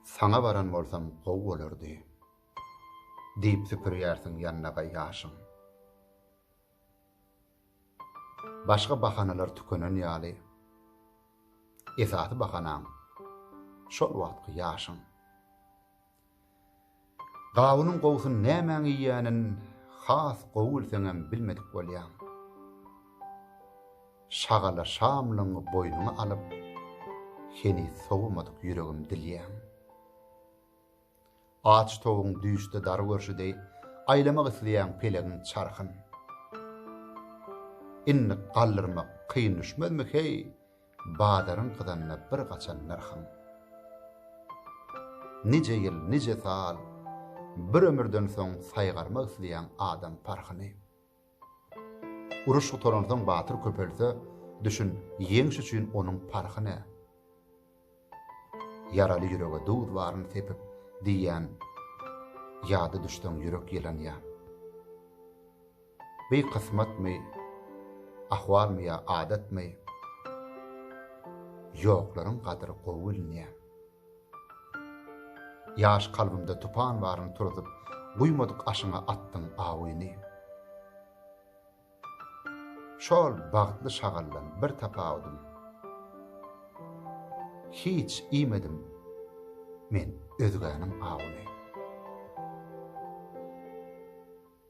Saňa baran bolsam gowy bolardy. Diýip süpürýärsiň ýannaga ýaşyň. Başga bahanalar tükenen ýaly, esasy bahanaň şol wagtky ýaşyň. Gawunyň gowusyny nämäň iýýänin has gowy bilseňem bilmedik bolýaň. Şagala şamlygyňy boýnuňa alyp, heniz sowamadyk ýüregim dilýäň. Aç towugyň düýşde dary görşi deý aýlamak isleýäň pelegiň çarhyn. Indik galdyrmak kyn düşmezmi heý, Bazaryň gyzanda bir gaçan nyrhyň. Nije ýyl, nije sal, bir ömürden soň saýgarmak isleýäň adam parhyny. Uruş gutaransoň batyr köpelse, düşün, ýeňiş üçin onuň parhy ne? Ýaraly ýürege duz baryny sepip diýýän ýada düşseň ýürek ýylanýar. Bi kysmatmy, ahwalmy ýa adatmy, ýoklaryň gadyry gowy bilinýär. Ýaş kalbymda tupan baryny turuzyp, guýmadyk aşyňa atdyň awyny. Şol bagtly şagaldan bir tapawudym, hiç iýmedim men özgäniň awuny.